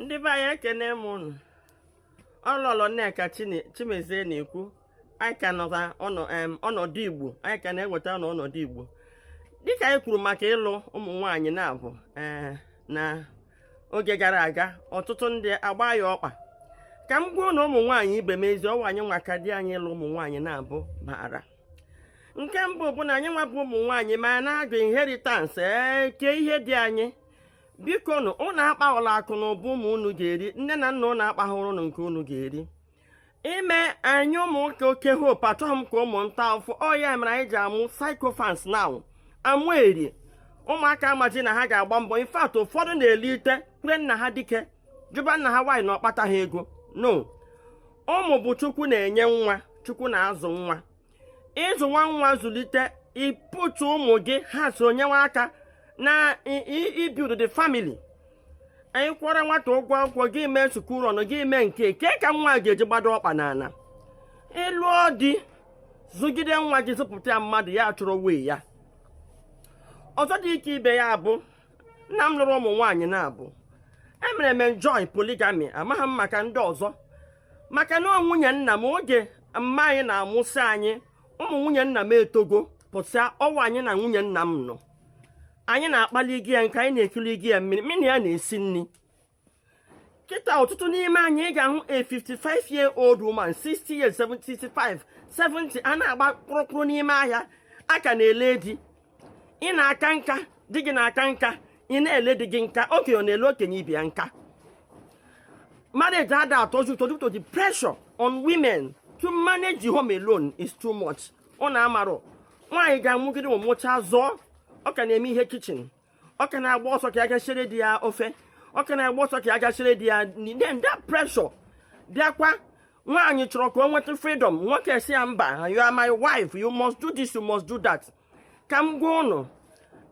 ndị be anyị ekene m unu ọ lọlọ nneka chimezie na-ekwu anyị ka nọta ọnọdụ igbo anyị ka na-enweta na ọnọdụ igbo dịka anyị kwuru maka ịlụ ụmụ nwaanyị naabọ ee eh, na oge gara aga ọtụtụ ndị agba ya ọkpa ka m gwa unu ụmụ nwaanyị ibe m ezi ọ wụ anyị nwa ka di anyị ịlụ ụmụ nwaanyị naabọ baara nke mbụ bụ na anyị nwa bụ ụmụ nwaanyị ma na-agụ inheritance eke eh, ihe di anyị biko nụ ụnụ akpaghọla akụ na ụba ụmụ unu ga-eri nne na nna ụnụ akpaghọrọ ụnụ nke unu ga-eri ime anyị ụmụ nwoke oke hope achọghị m ka ụmụ m taa afụfụ ọ ya mere anyị ji amụ sycophants now amụ eri ụmụaka amaji na ha ga-agba mbọ in fact ụfọdụ na-elite kwere nna ha dike jụba nna ha why na ọ kpataha ego no ụmụ bụ chukwu na-enye nwa chukwu na-azụ nwa ịzụ nwa nwa zụlite ịpụtụ ụmụ gị ha so nyewe aka na ibuild the family anyị kwụọrọ nwata ụgwọ akwụkwọ gị mee sukuru ọnụ gị mee nke ke ka nwa ga-eji gbado ọkpa n'ala ịlụọ di zụgide nwa gị zụpụta ya mmadụ ya chọrọ way ya ọzọ dị ka ibe ya bụ nna m lụrụ ụmụ nwaanyị naabọ emere m enjoy polygamy amaghị m maka ndị ọzọ maka na nwunye nna m oge mma anyị na-amụsị anyị ụmụ nwunye nna m etogo pụsịa ọ wụ anyị na nwunye nna m nọ anyị na-akpali gị ya nkụ anyị na-ekuli gị ya mmiri mụ na ya na-esi nri kịta ọtụtụ n'ime anyị ị ga-ahụ a 55 year old woman 60 years 75 70 a na-agba kpụrụkpụrụ n'ime ahịa a ka na-ele di ị na-aka nka di gị na-aka nka ị na-ele di gị nka okenye ọ na-ele okenye ibe ya nka marriage ada atọzi ụtọ due to the pressure on women to manage the home alone is too much ọ na-amarụ nwaanyị ga-amụgide ọ mụchaa zụọ ọ ka na-eme ihe kitchen ọ ka na-agba ọsọ ka ya ga siere di ya ofe ọ ka na-agba ọsọ ka ya ga siere di ya nri then that pressure bịakwa nwaanyị chọrọ ka o nweta freedom nwoke sị ya mba you are my wife you must do this you must do that ka m gwa ụnụ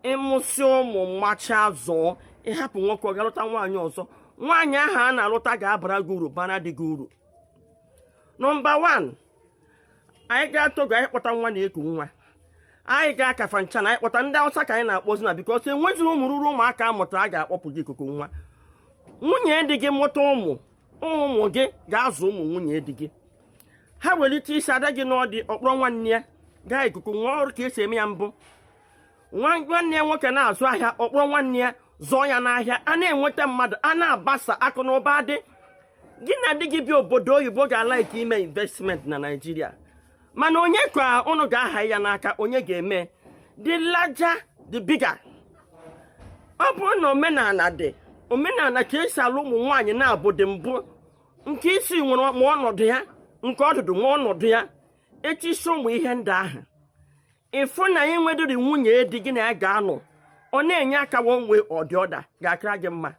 ị mụsịa ụmụ mụchaa zụọ ị hapụ nwoke ọ ga-alụta nwaanyị ọzọ nwaanyị ahụ a na-alụta ga-abara gị uru baara di gị uru nọmba 1 anyị gaa togo anyị kpọta nwa na-eku nwa anyị gaa kafanchan anyị kpọta ndị awụsa ka anyị na-akpọzi now because enwezi ụmụ ruru ụmụaka a mụta a ga-akpọpụ ga ikuku nwa nwunye di gị mụta ụmụ ụmụ gị ga-azụ ụmụ nwunye di gị ha welite isi ada gị nụọ di ọ kpọrọ nwanne ya gaa ikuku nwa ọrụ ka e si eme ya mbụ nwanne ya nwoke na-azụ ahịa ọ kpọrọ nwanne ya zụọ ya n'ahịa a na-enweta mmadụ a na-abasa akụ na ụba dị gị na di gị bi obodo oyibo ga-alike ime investment na naijiria mana onye ka ụnụ ga-aha ya n'aka onye ga-eme the larger the bigger ọ bụrụ na omenala dị omenala ka esi alụ ụmụ nwaanyị na-abụ dị mbụ nke isi nwere ma ọnọdụ ya nke ọdụdụ nwa ọnọdụ ya echi so ụmụ ihe ndị ahụ ị fụ na i nwedịrị nwunye di gị na ya ga-anọ ọ na-enye aka one way or the other ga-akara gị mma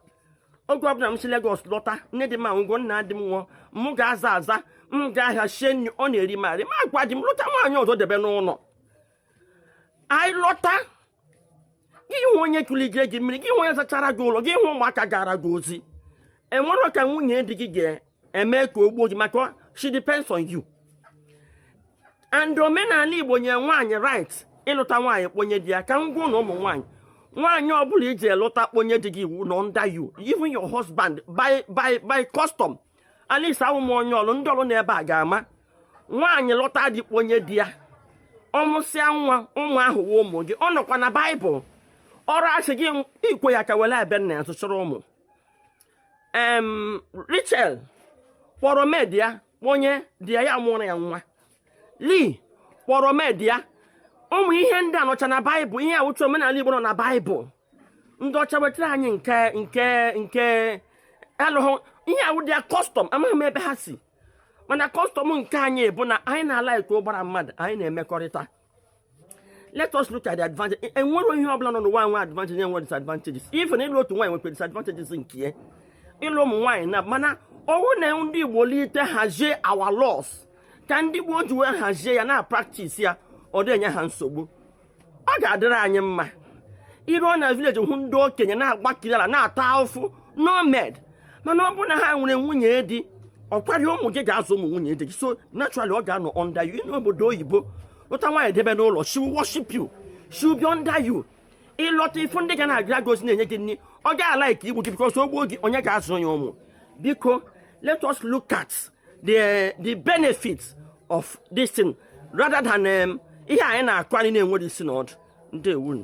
oge ọbụla m si Lagos lọta nne di m anwụgo nna di m nwụọ m ga-aza aza m gaa ahịa sie nri ọ na-eri m arụ m agwa di m lụta nwaanyị ọzọ debe n'ụlọ anyị lọta gị hụ onye kụligere gị mmiri gị hụ onye zachara gị ụlọ gị hụ ụmụaka gara gị ozi enwere ka nwunye di gị ga eme ka o gbuo gị maka she depends on you and omenala igbo nye nwaanyị right ịlụta nwaanyị kpọnye di ya ka m gwanụ ụmụ nwaanyị nwaanyị ọbụla i jee lụta kpọnye di gị iwu nọ under you even your husband by by by custom at least awụ m onye ọlụ ndị ọlụ na ebe a ga-ama nwaanyị lụta di kpọnye di ya ọ mụsịa nwa ụmụ ahụ wụ ụmụ gị ọ nọkwa na baịbụl ọrụ asị gị ikwe ya ka were abịa na ya ụmụ em Rachel kpọrọ maid ya kpọnye di ya ya mụrụ ya nwa Leah kpọrọ maid ya ụmụ ihe ndị a nọcha na baịbụl ihe a wụcha omenala igbo nọ na baịbụl ndị ọcha wetara anyị nke nke nke alụghụ ihe a wụ their custom amaghị m ebe ha si mana custom nke anyị bụ na anyị na-alike ụbara mmadụ anyị na-emekọrịta let us look at the advantage e, enwere ihe ọbụla nọ n'ụwa nwe advantage enwe disadvantages even ịlụ otu nwaanyị nwekwa disadvantages nke ya ịlụ ụmụ nwaanyị na mana ọ wụ na ndị igbo lite hazie our laws ka ndị gboo ji wee hazie ya na-apractice ya ọ dị enye ha nsogbu ọ ga-adịrị anyị mma i ruo na village hụ ndị okenye na-agbakiri ala na-ata ahụfụ no maid mana ọ bụrụ na ha nwere nwunye di ọkwari ụmụ gị ga-azụ ụmụ nwunye di gị so naturally ọ ga-anọ under you n'obodo oyibo lụta nwaanyị debe n'ụlọ she will worship you she will be under you ị lọta ị fụ ndị ga na-agara gị ozi na-enye gị nri ọ gaghị alike igbu gị because o gbuo gị onye ga-azụ ya ụmụ biko let us look at the the benefits of this thing rather than um, ihe anyị na-akọ anyị na-enwerọ isi na ọdụ ndeewonụ